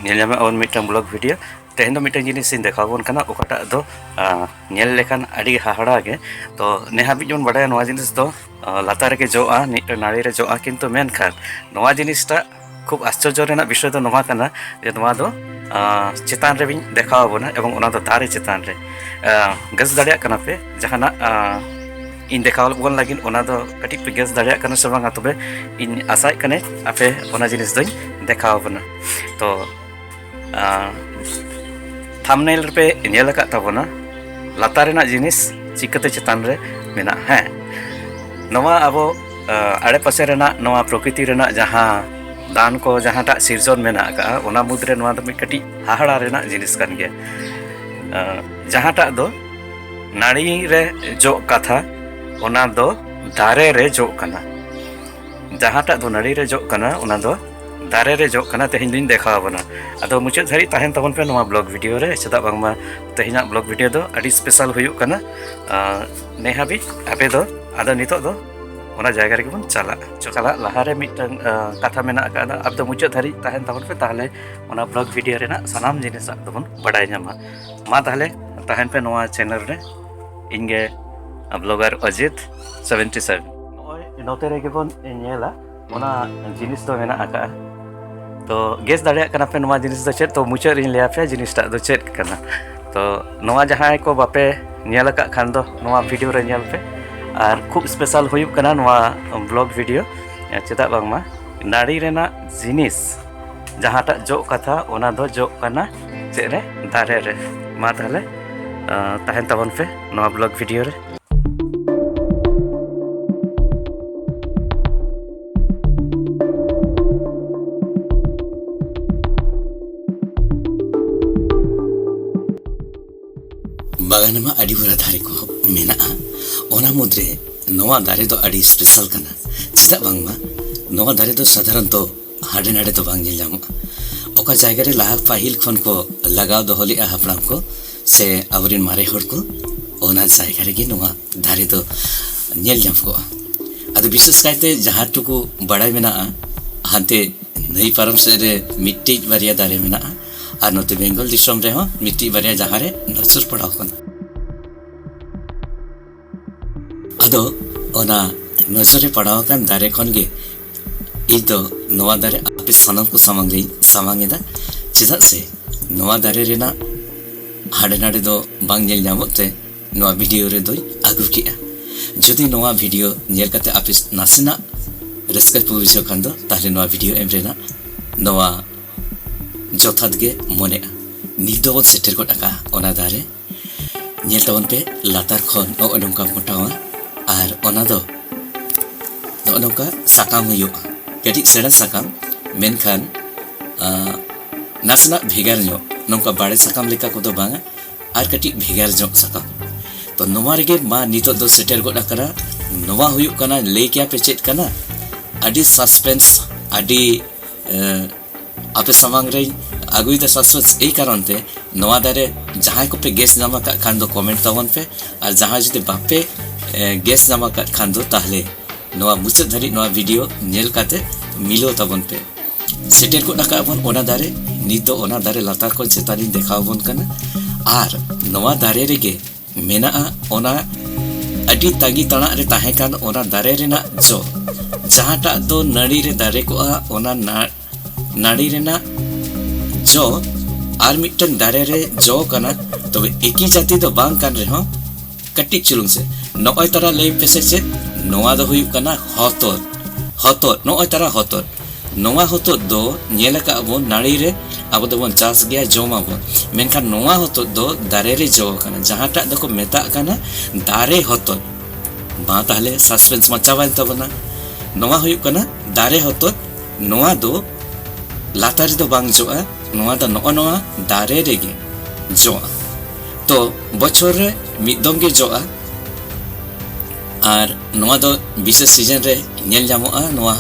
ᱧᱮᱞ ᱧᱟᱢᱮᱫ ᱟᱵᱚᱱ ᱢᱤᱫᱴᱟᱝ ᱵᱞᱚᱜ ᱵᱷᱤᱰᱤᱭᱳ ᱛᱮᱦᱮᱧ ᱫᱚ ᱢᱤᱫᱴᱟᱝ ᱡᱤᱱᱤᱥ ᱤᱧ ᱫᱮᱠᱷᱟᱣ ᱟᱵᱚᱱ ᱠᱟᱱᱟ ᱚᱠᱟᱴᱟᱜ ᱫᱚ ᱧᱮᱞ ᱞᱮᱠᱷᱟᱱ ᱟᱹᱰᱤ ᱦᱟᱦᱟᱲᱟ ᱜᱮ ᱛᱚ ᱱᱮᱦᱟᱵᱤᱡ ᱵᱚᱱ ᱵᱟᱰᱟᱭᱟ ᱱᱚᱣᱟ ᱡᱤᱱᱤᱥ ᱫᱚ ᱞᱟᱛᱟᱨ ᱨᱮᱜᱮ ᱡᱚᱜᱼᱟ ᱢᱤᱫᱴᱟᱝ ᱱᱟᱹᱲᱤ ᱨᱮ ᱡᱚᱜᱼᱟ ᱠᱤᱱᱛᱩ ᱢᱮᱱᱠᱷᱟᱱ ᱱᱚᱣᱟ ᱡᱤᱱᱤᱥᱴᱟᱜ ᱠᱷᱩᱵ ᱟᱥᱪᱚᱨᱡᱚ ᱨᱮᱱᱟᱜ ᱵᱤᱥᱚᱭ ᱫᱚ ᱱᱚᱣᱟ ᱠᱟᱱᱟ ᱡᱮ ᱱᱚᱣᱟ ᱫᱚ ᱪᱮᱛᱟᱱ ᱨᱮ ᱵᱤᱧ ᱫᱮᱠᱷᱟᱣ ᱟᱵᱚᱱᱟ ᱮᱵᱚᱝ ᱚᱱᱟ ᱫᱚ ᱫᱟᱨᱮ ᱪᱮᱛᱟᱱ ᱨᱮ ᱜᱮᱥ ᱫᱟᱲᱮᱭᱟᱜ ᱠᱟᱱᱟ ᱯᱮ ᱡᱟᱦᱟᱱᱟᱜ ᱤᱧ ᱫᱮᱠᱷᱟᱣ ᱵᱚᱱ ᱞᱟᱹᱜᱤᱫ ᱚᱱᱟ ᱫᱚ ᱠᱟᱹᱴᱤᱡ ᱯᱮ ᱜᱮᱥ ᱫᱟᱲᱮᱭᱟᱜ ᱠᱟᱱᱟ ᱥᱮ ᱵᱟᱝᱟ ᱛᱚᱵᱮ ᱤᱧ ᱟᱥᱟᱭᱮᱫ ᱠᱟᱱᱟᱹᱧ ᱟᱯᱮ ᱚᱱᱟ ᱡᱤᱱᱤᱥ ᱫᱚᱧ ᱫᱮᱠᱷᱟᱣ ᱟᱵᱚᱱᱟ ᱛᱚ ᱛᱷᱟᱢᱱᱮᱞ ᱨᱮᱯᱮ ᱧᱮᱞ ᱟᱠᱟᱫ ᱛᱟᱵᱚᱱᱟ ᱞᱟᱛᱟᱨ ᱨᱮᱱᱟᱜ ᱡᱤᱱᱤᱥ ᱪᱤᱠᱟᱹᱛᱮ ᱪᱮᱛᱟᱱ ᱨᱮ ᱢᱮᱱᱟᱜᱼᱟ ᱦᱮᱸ ᱱᱚᱣᱟ ᱟᱵᱚ ᱟᱲᱮᱯᱟᱥᱮ ᱨᱮᱱᱟᱜ ᱱᱚᱣᱟ ᱯᱨᱚᱠᱨᱤᱛᱤ ᱨᱮᱱᱟᱜ ᱡᱟᱦᱟᱸ ᱫᱟᱱ ᱠᱚ ᱡᱟᱦᱟᱸᱴᱟᱜ ᱥᱤᱨᱡᱚᱱ ᱢᱮᱱᱟᱜ ᱟᱠᱟᱫᱼᱟ ᱚᱱᱟ ᱢᱩᱫᱽᱨᱮ ᱱᱚᱣᱟ ᱫᱚ ᱢᱤᱫ ᱠᱟᱹᱴᱤᱡ ᱦᱟᱦᱟᱲᱟ ᱨᱮᱱᱟᱜ ᱡᱤᱱᱤᱥ ᱠᱟᱱ ᱜᱮᱭᱟ ᱡᱟᱦᱟᱸᱴᱟᱜ ᱫᱚ ᱱᱟᱹᱲᱤ ᱨᱮ ᱡᱚᱜ ᱠᱟᱛᱷᱟ ᱚᱱᱟ ᱫᱚ ᱫᱟᱨᱮ ᱨᱮ ᱡᱚᱜ ᱠᱟᱱᱟ ᱡᱟᱦᱟᱸᱴᱟᱜ ᱫᱚ ᱱᱟᱹᱲᱤ ᱨᱮ ᱡᱚᱜ ᱠᱟᱱᱟ ᱚᱱᱟ ᱫᱚ ᱫᱟᱨᱮ ᱨᱮ ᱡᱚᱜ ᱠᱟᱱᱟ ᱛᱮᱦᱮᱧ ᱫᱚᱧ ᱫᱮᱠᱷᱟᱣ ᱟᱵᱚᱱᱟ ᱟᱫᱚ ᱢᱩᱪᱟᱹᱫ ᱫᱷᱟᱹᱨᱤᱡ ᱛᱟᱦᱮᱱ ᱛᱟᱵᱚᱱ ᱯᱮ ᱱᱚᱣᱟ ᱵᱞᱚᱜ ᱵᱷᱤᱰᱤᱭᱳ ᱨᱮ ᱪᱮᱫᱟᱜ ᱵᱟᱝᱢᱟ ᱛᱮᱦᱮᱧᱟᱜ ᱵᱞᱚᱜ ᱵᱷᱤᱰᱤᱭᱳ ᱫᱚ ᱟᱹᱰᱤ ᱥᱯᱮᱥᱟᱞ ᱦᱩᱭᱩᱜ ᱠᱟᱱᱟ ᱱᱮ ᱦᱟᱹᱵᱤᱡ ᱟᱯᱮ ᱫᱚ ᱟᱫᱚ ᱱᱤᱛᱚᱜ ᱫᱚ ᱚᱱᱟ ᱡᱟᱭᱜᱟ ᱨᱮᱜᱮ ᱵᱚᱱ ᱪᱟᱞᱟᱜᱼᱟ ᱪᱟᱞᱟᱜ ᱞᱟᱦᱟᱨᱮ ᱢᱤᱫᱴᱟᱝ ᱠᱟᱛᱷᱟ ᱢᱮᱱᱟᱜ ᱟᱠᱟᱫᱟ ᱟᱯᱮ ᱫᱚ ᱢᱩᱪᱟᱹᱫ ᱫᱷᱟᱹᱨᱤᱡ ᱛᱟᱦᱮᱱ ᱛᱟᱵᱚᱱ ᱯᱮ ᱛᱟᱦᱚᱞᱮ ᱚᱱᱟ ᱵᱞᱚᱜ ᱵᱷᱤᱰᱤᱭᱳ ᱨᱮᱱᱟᱜ ᱥᱟᱱᱟᱢ ᱡᱤᱱᱤᱥ ᱟᱯᱮ ᱫᱚᱵᱚᱱ ᱵᱟᱰᱟᱭ ᱧᱟᱢᱟ ᱢᱟ ᱛᱟᱦᱚᱞᱮ ᱛᱟᱦᱮᱱ ᱯᱮ ᱱᱚᱣᱟ ᱪᱮᱱᱮᱞ ᱨᱮ ᱤᱧᱜᱮ ᱵᱞᱚᱜᱟᱨ ᱚᱡᱤᱛ ᱥᱮᱵᱷᱮᱱᱴᱤ ᱥᱮᱵᱷᱮᱱ ᱱᱚᱜᱼᱚᱭ ᱱᱚᱛᱮ ᱨᱮᱜᱮ ᱵᱚᱱ ᱧᱮᱞᱟ ᱚᱱᱟ ᱡᱤᱱᱤᱥ ᱫᱚ ᱢᱮᱱᱟᱜ ᱟᱠᱟᱫᱼᱟ ᱛᱚ ᱜᱮᱥ ᱫᱟᱲᱮᱭᱟᱜ ᱠᱟᱱᱟ ᱯᱮ ᱱᱚᱣᱟ ᱡᱤᱱᱤᱥ ᱫᱚ ᱪᱮᱫ ᱛᱚ ᱢᱩᱪᱟᱹᱫ ᱨᱤᱧ ᱞᱟᱹᱭᱟ ᱯᱮᱭᱟ ᱡᱤᱱᱤᱥᱴᱟᱜ ᱫᱚ ᱪᱮᱫ ᱠᱟᱱᱟ ᱛᱚ ᱱᱚᱣᱟ ᱡᱟᱦᱟᱸᱭ ᱠᱚ ᱵᱟᱯᱮ ᱧᱮᱞ ᱟᱠᱟᱫ ᱠᱷᱟᱱ ᱫᱚ ᱱᱚᱣᱟ ᱵᱷᱤᱰᱤᱭᱳ ᱨᱮ ᱧᱮᱞ ᱯᱮ ᱟᱨ ᱠᱷᱩᱵ ᱥᱯᱮᱥᱟᱞ ᱦᱩᱭᱩᱜ ᱠᱟᱱᱟ ᱱᱚᱣᱟ ᱵᱞᱚᱜ ᱵᱷᱤᱰᱤᱭᱳ ᱪᱮᱫᱟᱜ ᱵᱟᱝᱢᱟ ᱱᱟᱹᱲᱤ ᱨᱮᱱᱟᱜ ᱡᱤᱱᱤᱥ ᱡᱟᱦᱟᱸᱴᱟᱜ ᱡᱚᱜ ᱠᱟᱛᱷᱟ ᱚᱱᱟ ᱫᱚ ᱡᱚᱜ ᱠᱟᱱᱟ ᱪᱮᱫ ᱨᱮ ᱫᱟᱨᱮ ᱨᱮ ᱢᱟ ᱛᱟᱦᱚᱞᱮ ᱛᱟᱦᱮᱱ ᱛᱟᱵᱚᱱ ᱯᱮ ᱱᱚᱣᱟ ᱵᱞᱚᱜ ᱵᱷᱤᱰᱤᱭᱳ ᱨᱮ ᱵᱟᱜᱟᱱ ᱢᱟ ᱟᱹᱰᱤ ᱵᱩᱨᱟ ᱫᱟᱨᱮ ᱠᱚ ᱢᱮᱱᱟᱜᱼᱟ ᱚᱱᱟ ᱢᱩᱫᱽᱨᱮ ᱱᱚᱣᱟ ᱫᱟᱨᱮ ᱫᱚ ᱟᱹᱰᱤ ᱥᱯᱮᱥᱟᱞ ᱠᱟᱱᱟ ᱪᱮᱫᱟᱜ ᱵᱟᱝᱢᱟ ᱱᱚᱣᱟ ᱫᱟᱨᱮ ᱫᱚ ᱥᱟᱫᱷᱟᱨᱚᱱᱛᱚ ᱦᱟᱸᱰᱮ ᱱᱟᱰᱮ ᱫᱚ ᱵᱟᱝ ᱧᱮᱞ ᱧᱟᱢᱚᱜᱼᱟ ᱚᱠᱟ ᱡᱟᱭᱜᱟ ᱨᱮ ᱞᱟᱦᱟ ᱯᱟᱹᱦᱤᱞ ᱠᱷᱚᱱ ᱠᱚ ᱞᱟᱜᱟᱣ ᱫᱚᱦᱚ ᱞᱮᱫᱼᱟ ᱦᱟᱯᱲᱟᱢ ᱠᱚ ᱥᱮ ᱟᱵᱚᱨᱮᱱ ᱢᱟᱨᱮ ᱦᱚᱲ ᱠᱚ ᱚᱱᱟ ᱡᱟᱭᱜᱟ ᱨᱮᱜᱮ ᱱᱚᱣᱟ ᱫᱟᱨᱮ ᱫᱚ ᱧᱮᱞ ᱧᱟᱢ ᱠᱚᱜᱼᱟ ᱟᱫᱚ ᱵᱤᱥᱮᱥ ᱠᱟᱭᱛᱮ ᱡᱟᱦᱟᱸ ᱴᱩᱠᱩ ᱵᱟᱲᱟᱭ ᱢᱮᱱᱟᱜᱼᱟ ᱦᱟᱱᱛᱮ ᱱᱟᱹᱭ ᱯᱟᱨᱚᱢ ᱥᱮᱫ ᱨᱮ ᱢᱤᱫᱴᱤᱡ ᱵᱟᱨᱭᱟ ᱫᱟᱨᱮ ᱢᱮᱱᱟᱜᱼᱟ ᱟᱨ ᱱᱚᱛᱮ ᱵᱮᱝᱜᱚᱞ ᱫᱤᱥᱚᱢ ᱨᱮᱦᱚᱸ ᱢᱤᱫᱴᱤᱡ ᱵᱟᱨᱭᱟ ᱡᱟᱦᱟᱸ ᱨᱮ ᱱᱚᱡᱚᱨ ᱯᱟᱲᱟᱣ ᱠᱟᱱᱟ ᱟᱫᱚ ᱚᱱᱟ ᱱᱚᱡᱚᱨᱮ ᱯᱟᱲᱟᱣ ᱟᱠᱟᱱ ᱫᱟᱨᱮ ᱠᱷᱚᱱ ᱜᱮ ᱤᱧ ᱫᱚ ᱱᱚᱣᱟ ᱫᱟᱨᱮ ᱟᱯᱮ ᱥᱟᱱᱟᱢ ᱠᱚ ᱥᱟᱢᱟᱝ ᱨᱮᱧ ᱥᱟᱢᱟᱝ ᱮᱫᱟ ᱪᱮᱫᱟᱜ ᱥᱮ ᱱᱚᱣᱟ ᱫᱟᱨᱮ ᱨᱮᱱᱟᱜ ᱦᱟᱸᱰᱮ ᱱᱟᱰᱮ ᱫᱚ ᱵᱟᱝ ᱧᱮᱞ ᱧᱟᱢᱚᱜ ᱛᱮ ᱱᱚᱣᱟ ᱵᱷᱤᱰᱤᱭᱳ ᱨᱮᱫᱚᱧ ᱟᱹᱜᱩ ᱠᱮᱜᱼᱟ ᱡᱩᱫᱤ ᱱᱚᱣᱟ ᱵᱷᱤᱰᱤᱭᱳ ᱧᱮᱞ ᱠᱟᱛᱮ ᱟᱯᱮ ᱱᱟᱥᱮᱱᱟᱜ ᱨᱟᱹᱥᱠᱟᱹ ᱯᱮ ᱵᱩᱡᱷᱟᱹᱣ ᱠᱷᱟᱱ ᱫᱚ ᱛᱟᱦᱞᱮ ᱱᱚᱣᱟ ᱵᱷᱤᱰᱤᱭᱳ ᱮᱢ ᱨᱮᱱᱟᱜ ᱱᱚᱣᱟ ᱡᱚᱛᱷᱟᱛ ᱜᱮ ᱢᱚᱱᱮᱜᱼᱟ ᱱᱤᱛ ᱫᱚᱵᱚᱱ ᱥᱮᱴᱮᱨ ᱜᱚᱫ ᱟᱠᱟᱜᱼᱟ ᱚᱱᱟ ᱫᱟᱨᱮ ᱧᱮᱞ ᱛᱟᱵᱚᱱ ᱯᱮ ᱞᱟᱛᱟᱨ ᱠᱷᱚᱱ ᱱᱚᱜᱼᱚ ᱱᱚᱝᱠᱟ ᱢᱚᱴᱟᱣᱟ ᱟᱨ ᱚᱱᱟ ᱫᱚ ᱱᱚᱜᱼᱚ ᱱᱚᱝᱠᱟ ᱥᱟᱠᱟᱢ ᱦᱩᱭᱩᱜᱼᱟ ᱠᱟᱹᱴᱤᱡ ᱥᱮᱬᱟ ᱥᱟᱠᱟᱢ ᱢᱮᱱᱠᱷᱟᱱ ᱱᱟᱥᱮᱱᱟᱜ ᱵᱷᱮᱜᱟᱨ ᱧᱚᱜ ᱱᱚᱝᱠᱟ ᱵᱟᱲᱮ ᱥᱟᱠᱟᱢ ᱞᱮᱠᱟ ᱠᱚᱫᱚ ᱵᱟᱝᱟ ᱟᱨ ᱠᱟᱹᱴᱤᱡ ᱵᱷᱮᱜᱟᱨ ᱧᱚᱜ ᱥᱟᱠᱟᱢ ᱛᱚ ᱱᱚᱣᱟ ᱨᱮᱜᱮ ᱢᱟ ᱱᱤᱛᱚᱜ ᱫᱚ ᱥᱮᱴᱮᱨ ᱜᱚᱫ ᱟᱠᱟᱱᱟ ᱱᱚᱣᱟ ᱦᱩᱭᱩᱜ ᱠᱟᱱᱟ ᱞᱟᱹᱭ ᱠᱮᱭᱟ ᱯᱮ ᱪᱮᱫ ᱠᱟᱱᱟ ᱟᱹᱰᱤ ᱥᱟᱥᱯᱮᱱᱥ ᱟᱹᱰᱤ ᱟᱯᱮ ᱥᱟᱢᱟᱝ ᱨᱮ ᱟᱹᱜᱩᱭᱮᱫᱟ ᱥᱟᱥᱯᱮᱱᱥ ᱮᱭ ᱠᱟᱨᱚᱱ ᱛᱮ ᱱᱚᱣᱟ ᱫᱟᱨᱮ ᱡᱟᱦᱟᱸᱭ ᱠᱚᱯᱮ ᱜᱮᱥ ᱧᱟᱢ ᱟᱠᱟᱫ ᱠᱷᱟᱱ ᱫᱚ ᱠᱚᱢᱮᱱᱴ ᱛᱟᱵᱚᱱ ᱯᱮ ᱟᱨ ᱡᱟᱦᱟᱸᱭ ᱡᱩᱫᱤ ᱵᱟᱯᱮ ᱜᱮᱥ ᱧᱟᱢ ᱟᱠᱟᱫ ᱠᱷᱟᱱ ᱫᱚ ᱛᱟᱦᱞᱮ ᱱᱚᱣᱟ ᱢᱩᱪᱟᱹᱫ ᱫᱷᱟᱹᱨᱤᱡ ᱱᱚᱣᱟ ᱵᱷᱤᱰᱤᱭᱳ ᱧᱮᱞ ᱠᱟᱛᱮ ᱢᱤᱞᱟᱹᱣ ᱛᱟᱵᱚᱱ ᱯᱮ ᱥᱮᱴᱮᱨ ᱜᱚᱫ ᱟᱠᱟᱫ ᱵᱚᱱ ᱚᱱᱟ ᱫᱟᱨᱮ ᱱᱤᱛ ᱫᱚ ᱚᱱᱟ ᱫᱟᱨᱮ ᱞᱟᱛᱟᱨ ᱠᱷᱚᱱ ᱪᱮᱛᱟᱱᱤᱧ ᱫᱮᱠᱷᱟᱣ ᱟᱵᱚᱱ ᱠᱟᱱᱟ ᱟᱨ ᱱᱚᱣᱟ ᱫᱟᱨᱮ ᱨᱮᱜᱮ ᱢᱮᱱᱟᱜᱼᱟ ᱚᱱᱟ ᱟᱹᱰᱤ ᱛᱟᱺᱜᱤ ᱛᱟᱲᱟᱜ ᱨᱮ ᱛᱟᱦᱮᱸ ᱠᱟᱱ ᱚᱱᱟ ᱫᱟᱨᱮ ᱨᱮᱱᱟᱜ ᱡᱚ ᱡᱟᱦᱟᱸᱴᱟᱜ ᱫᱚ ᱱᱟᱹᱲᱤ ᱨᱮ ᱫᱟᱨᱮ ᱠᱚᱜᱼᱟ ᱚᱱᱟ ᱱᱟᱹᱲᱤ ᱨᱮᱱᱟᱜ ᱡᱚ ᱟᱨ ᱢᱤᱫᱴᱟᱝ ᱫᱟᱨᱮ ᱨᱮ ᱡᱚ ᱠᱟᱱᱟ ᱛᱚᱵᱮ ᱮᱠᱤ ᱡᱟᱹᱛᱤ ᱫᱚ ᱵᱟᱝ ᱠᱟᱱ ᱨᱮᱦᱚᱸ ᱠᱟᱹᱴᱤᱡ ᱪᱩᱞᱩᱝ ᱥᱮ ᱱᱚᱜᱼᱚᱭ ᱛᱟᱨᱟ ᱞᱟᱹᱭ ᱯᱮᱥᱮ ᱪᱮᱫ ᱱᱚᱣᱟ ᱫᱚ ᱦᱩᱭᱩᱜ ᱠᱟᱱᱟ ᱦᱚᱛᱚᱫ ᱦᱚᱛᱚᱫ ᱱᱚᱜᱼᱚᱭ ᱛᱟᱨᱟ ᱦᱚᱛᱚᱫ ᱱᱚᱣᱟ ᱦᱚᱛᱚᱫ ᱫᱚ ᱧᱮᱞ ᱟᱠᱟᱫ ᱟᱵᱚᱱ ᱱᱟᱹᱲᱤ ᱨᱮ ᱟᱵᱚ ᱫᱚᱵᱚᱱ ᱪᱟᱥ ᱜᱮᱭᱟ ᱡᱚᱢ ᱟᱵᱚᱱ ᱢᱮᱱᱠᱷᱟᱱ ᱱᱚᱣᱟ ᱦᱚᱛᱚᱫ ᱫᱚ ᱫᱟᱨᱮ ᱨᱮ ᱡᱚ ᱟᱠᱟᱱᱟ ᱡᱟᱦᱟᱸᱴᱟᱜ ᱫᱚᱠᱚ ᱢᱮᱛᱟᱜ ᱠᱟᱱᱟ ᱫᱟᱨᱮ ᱦᱚᱛᱚᱫ ᱢᱟ ᱛᱟᱦᱞᱮ ᱥᱟᱥᱯᱮᱱᱥ ᱢᱟ ᱪᱟᱵᱟᱭᱮᱱ ᱛᱟᱵᱚᱱᱟ ᱱᱚᱣᱟ ᱦᱩᱭᱩᱜ ᱠᱟᱱᱟ ᱫᱟᱨᱮ ᱦᱚᱛᱚᱫ ᱱᱚᱣᱟ ᱫᱚ ᱞᱟᱛᱟᱨ ᱨᱮᱫᱚ ᱵᱟᱝ ᱡᱚᱜᱼᱟ ᱱᱚᱣᱟ ᱫᱚ ᱱᱚᱜᱼᱚ ᱱᱚᱣᱟ ᱫᱟᱨᱮ ᱨᱮᱜᱮ ᱡᱚᱜᱼᱟ ᱛᱚ ᱵᱚᱪᱷᱚᱨ ᱨᱮ ᱢᱤᱫ ᱫᱚᱢ ᱜᱮ ᱡᱚᱜᱼᱟ ᱟᱨ ᱱᱚᱣᱟ ᱫᱚ ᱵᱤᱥᱮᱥ ᱥᱤᱡᱚᱱ ᱨᱮ ᱧᱮᱞ ᱧᱟᱢᱚᱜᱼᱟ ᱱᱚᱣᱟ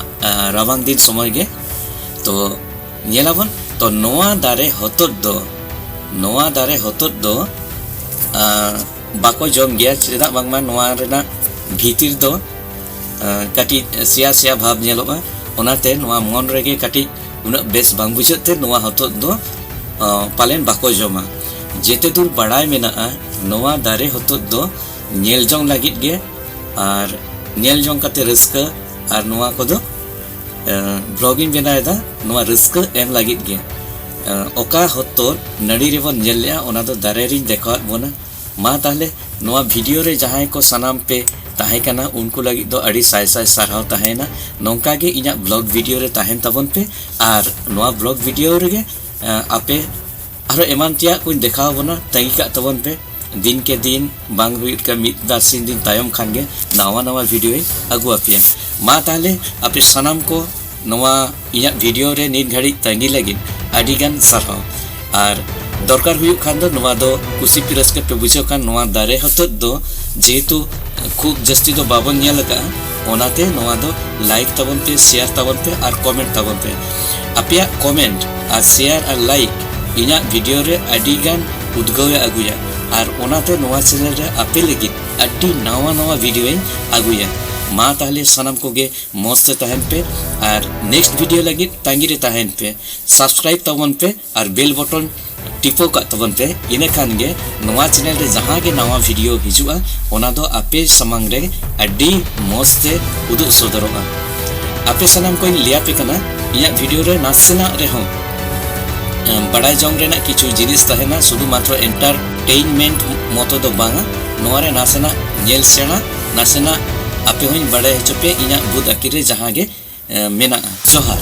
ᱨᱟᱵᱟᱝ ᱫᱤᱱ ᱥᱚᱢᱚᱭ ᱜᱮ ᱛᱚ ᱧᱮᱞᱟᱵᱚᱱ ᱛᱚ ᱱᱚᱣᱟ ᱫᱟᱨᱮ ᱦᱚᱛᱚᱫ ᱫᱚ ᱱᱚᱣᱟ ᱫᱟᱨᱮ ᱦᱚᱛᱚᱫ ᱫᱚ ᱵᱟᱠᱚ ᱡᱚᱢ ᱜᱮᱭᱟ ᱪᱮᱫᱟᱜ ᱵᱟᱝᱢᱟ ᱱᱚᱣᱟ ᱨᱮᱱᱟᱜ ᱵᱷᱤᱛᱤᱨ ᱫᱚ ᱠᱟᱹᱴᱤᱡ ᱥᱮᱭᱟ ᱥᱮᱭᱟ ᱵᱷᱟᱵᱽ ᱧᱮᱞᱚᱜᱼᱟ ᱚᱱᱟᱛᱮ ᱱᱚᱣᱟ ᱢᱚᱱ ᱨᱮᱜᱮ ᱠᱟᱹᱴᱤᱡ ᱩᱱᱟᱹᱜ ᱵᱮᱥ ᱵᱟᱝ ᱵᱩᱡᱷᱟᱹᱜ ᱛᱮ ᱱᱚᱣᱟ ᱦᱚᱛᱚᱫ ᱫᱚ ᱯᱟᱞᱮᱱ ᱵᱟᱠᱚ ᱡᱚᱢᱟ ᱡᱮᱛᱮ ᱫᱩᱨ ᱵᱟᱲᱟᱭ ᱢᱮᱱᱟᱜᱼᱟ ᱱᱚᱣᱟ ᱫᱟᱨᱮ ᱦᱚᱛᱚᱫ ᱫᱚ ᱧᱮᱞ ᱡᱚᱝ ᱞᱟᱹᱜᱤᱫ ᱜᱮ ᱟᱨ ᱧᱮᱞ ᱡᱚᱝ ᱠᱟᱛᱮ ᱨᱟᱹᱥᱠᱟᱹ ᱟᱨ ᱱᱚᱣᱟ ᱠᱚᱫᱚ ᱵᱞᱚᱜ ᱤᱧ ᱵᱮᱱᱟᱣᱮᱫᱟ ᱱᱚᱣᱟ ᱨᱟᱹᱥᱠᱟᱹ ᱮᱢ ᱞᱟᱹᱜᱤᱫ ᱜᱮ ᱚᱠᱟ ᱦᱚᱛᱚᱨ ᱱᱟᱹᱲᱤ ᱨᱮᱵᱚᱱ ᱧᱮᱞ ᱞᱮᱜᱼᱟ ᱚᱱᱟ ᱫᱚ ᱫᱟᱨᱮ ᱨᱤᱧ ᱫᱮᱠᱷᱟᱣᱟᱫ ᱵᱚᱱᱟ ᱢᱟ ᱛᱟᱦᱞᱮ ᱱᱚᱣᱟ ᱵᱷᱤᱰᱤᱭᱳ ᱨᱮ ᱡᱟᱦᱟᱸᱭ ᱠᱚ ᱥᱟᱱᱟᱢ ᱯᱮ ᱛᱟᱦᱮᱸ ᱠᱟᱱᱟ ᱩᱱᱠᱩ ᱞᱟᱹᱜᱤᱫ ᱫᱚ ᱟᱹᱰᱤ ᱥᱟᱭ ᱥᱟᱭ ᱥᱟᱨᱦᱟᱣ ᱛᱟᱦᱮᱸᱭᱮᱱᱟ ᱱᱚᱝᱠᱟ ᱜᱮ ᱤᱧᱟᱹᱜ ᱵᱞᱚᱜ ᱵᱷᱤᱰᱤᱭᱳ ᱨᱮ ᱛᱟᱦᱮᱱ ᱛᱟᱵᱚᱱ ᱯᱮ ᱟᱨ ᱱᱚᱣᱟ ᱵᱞᱚᱜ ᱵᱷᱤᱰᱤᱭᱳ ᱨᱮᱜᱮ ᱟᱯᱮ ᱟᱨᱚ ᱮᱢᱟᱱ ᱛᱮᱭᱟᱜ ᱠᱚᱧ ᱫᱮᱠᱷᱟᱣ ᱵᱚᱱᱟ ᱛᱟᱺᱜᱤ ᱠᱟᱜ ᱛᱟᱵᱚᱱ ᱯᱮ ᱫᱤᱱ ᱠᱮ ᱫᱤᱱ ᱵᱟᱝ ᱦᱩᱭᱩᱜ ᱠᱟᱱ ᱢᱤᱫ ᱵᱟᱨ ᱥᱤᱧ ᱫᱤᱱ ᱛᱟᱭᱚᱢ ᱠᱷᱟᱱ ᱜᱮ ᱱᱟᱣᱟ ᱱᱟᱣᱟ ᱵᱷᱤᱰᱤᱭᱳᱧ ᱟᱹᱜᱩ ᱟᱯᱮᱭᱟ ᱢᱟ ᱛᱟᱦᱞᱮ ᱟᱯᱮ ᱥᱟᱱᱟᱢ ᱠᱚ ᱱᱚᱣᱟ ᱤᱧᱟᱹᱜ ᱵᱷᱤᱰᱤᱭᱳ ᱨᱮ ᱱᱤᱛ ᱜᱷᱟᱹᱲᱤᱡ ᱛᱟᱺᱜᱤ ᱞᱟᱹᱜᱤᱫ ᱟᱹᱰᱤ ᱜᱟᱱ ᱥᱟᱨᱦᱟᱣ ᱟᱨ ᱫᱚᱨᱠᱟᱨ ᱦᱩᱭᱩᱜ ᱠᱷᱟᱱ ᱫᱚ ᱱᱚᱣᱟ ᱫᱚ ᱠᱩᱥᱤ ᱯᱮ ᱨᱟᱹᱥᱠᱟᱹ ᱯᱮ ᱵᱩᱡᱷᱟᱹᱣ ᱠᱷᱟᱱ ᱱᱚᱣᱟ ᱫᱟᱨᱮ ᱦᱚᱛᱚᱫ ᱫᱚ ᱡᱮᱦᱮᱛᱩ ᱠᱷᱩᱵ ᱡᱟᱹᱥᱛᱤ ᱫᱚ ᱵᱟᱵᱚᱱ ᱧᱮᱞ ᱟᱠᱟᱫᱼᱟ ᱚᱱᱟᱛᱮ ᱱᱚᱣᱟ ᱫᱚ ᱞᱟᱭᱤᱠ ᱛᱟᱵᱚᱱ ᱯᱮ ᱥᱮᱭᱟᱨ ᱛᱟᱵᱚᱱ ᱯᱮ ᱟᱨ ᱠᱚᱢᱮᱱᱴ ᱛᱟᱵᱚᱱ ᱯᱮ ᱟᱯᱮᱭᱟᱜ ᱠᱚᱢᱮᱱᱴ ᱟᱨ ᱥᱮᱭᱟᱨ ᱟᱨ ᱞᱟᱭᱤᱠ ᱤᱧᱟᱹᱜ ᱵᱷᱤᱰᱤᱭᱳ ᱨᱮ ᱟᱹᱰᱤ ᱜᱟᱱ ᱩᱫᱽᱜᱟᱹᱣ ᱮ ᱟᱹᱜᱩᱭᱟ ᱟᱨ ᱚᱱᱟᱛᱮ ᱱᱚᱣᱟ ᱪᱮᱱᱮᱞ ᱨᱮ ᱟᱯᱮ ᱞᱟᱹᱜᱤᱫ ᱟᱹᱰᱤ ᱱᱟᱣᱟ ᱱᱟᱣᱟ ᱵᱷᱤᱰᱤᱭᱳᱧ ᱟᱹᱜᱩᱭᱟ ᱢᱟ ᱛᱟᱦᱞᱮ ᱥᱟᱱᱟᱢ ᱠᱚᱜᱮ ᱢᱚᱡᱽ ᱛᱮ ᱛᱟᱦᱮᱱ ᱯᱮ ᱟᱨ ᱱᱮᱠᱥᱴ ᱵᱷᱤᱰᱤᱭᱳ ᱞᱟᱹᱜᱤᱫ ᱛᱟᱺᱜᱤ ᱨᱮ ᱛᱟᱦᱮᱱ ᱯᱮ ᱥᱟᱵᱥᱠᱨᱟᱭᱤᱵᱽ ᱛᱟᱵᱚᱱ ᱯᱮ ᱟᱨ ᱵᱮᱞ ᱵᱚᱴᱚᱱ ᱴᱤᱯᱟᱹᱣ ᱠᱟᱜ ᱛᱟᱵᱚᱱ ᱯᱮ ᱤᱱᱟᱹ ᱠᱷᱟᱱ ᱜᱮ ᱱᱚᱣᱟ ᱪᱮᱱᱮᱞ ᱨᱮ ᱡᱟᱦᱟᱸ ᱜᱮ ᱱᱟᱣᱟ ᱵᱷᱤᱰᱤᱭᱳ ᱦᱤᱡᱩᱜᱼᱟ ᱚᱱᱟ ᱫᱚ ᱟᱯᱮ ᱥᱟᱢᱟᱝ ᱨᱮ ᱟᱹᱰᱤ ᱢᱚᱡᱽ ᱛᱮ ᱩᱫᱩᱜ ᱥᱚᱫᱚᱨᱚᱜᱼᱟ ᱟᱯᱮ ᱥᱟᱱᱟᱢ ᱠᱚᱧ ᱞᱟᱹᱭ ᱟᱯᱮ ᱠᱟᱱᱟ ᱤᱧᱟᱹᱜ ᱵᱷᱤᱰᱤᱭᱳ ᱨᱮ ᱱᱟᱥᱮᱱᱟᱜ ᱨᱮᱦᱚᱸ ᱵᱟᱲᱟᱭ ᱡᱚᱝ ᱨᱮᱱᱟᱜ ᱠᱤᱪᱷᱩ ᱡᱤᱱᱤᱥ ᱛᱟᱦᱮᱱᱟ ᱥᱩᱫᱷᱩ ᱢᱟᱛᱨᱚ ᱮᱱᱴᱟᱨᱴᱮᱱᱢᱮᱱᱴ ᱢᱚᱛᱚ ᱫᱚ ᱵᱟᱝᱟ ᱱᱚᱣᱟ ᱨᱮ ᱱᱟᱥᱮᱱᱟᱜ ᱧᱮᱞ ᱥᱮᱬᱟ ᱱᱟᱥᱮᱱᱟᱜ ᱟᱯᱮ ᱦᱚᱸᱧ ᱵᱟᱲᱟᱭ ᱦᱚᱪᱚ ᱯᱮ ᱤᱧᱟᱹᱜ ᱵᱩᱫ ᱟᱹᱠᱤᱞ ᱨᱮ ᱡᱟᱦᱟᱸ ᱜᱮ ᱢᱮᱱᱟᱜᱼᱟ ᱡᱚᱦᱟᱨ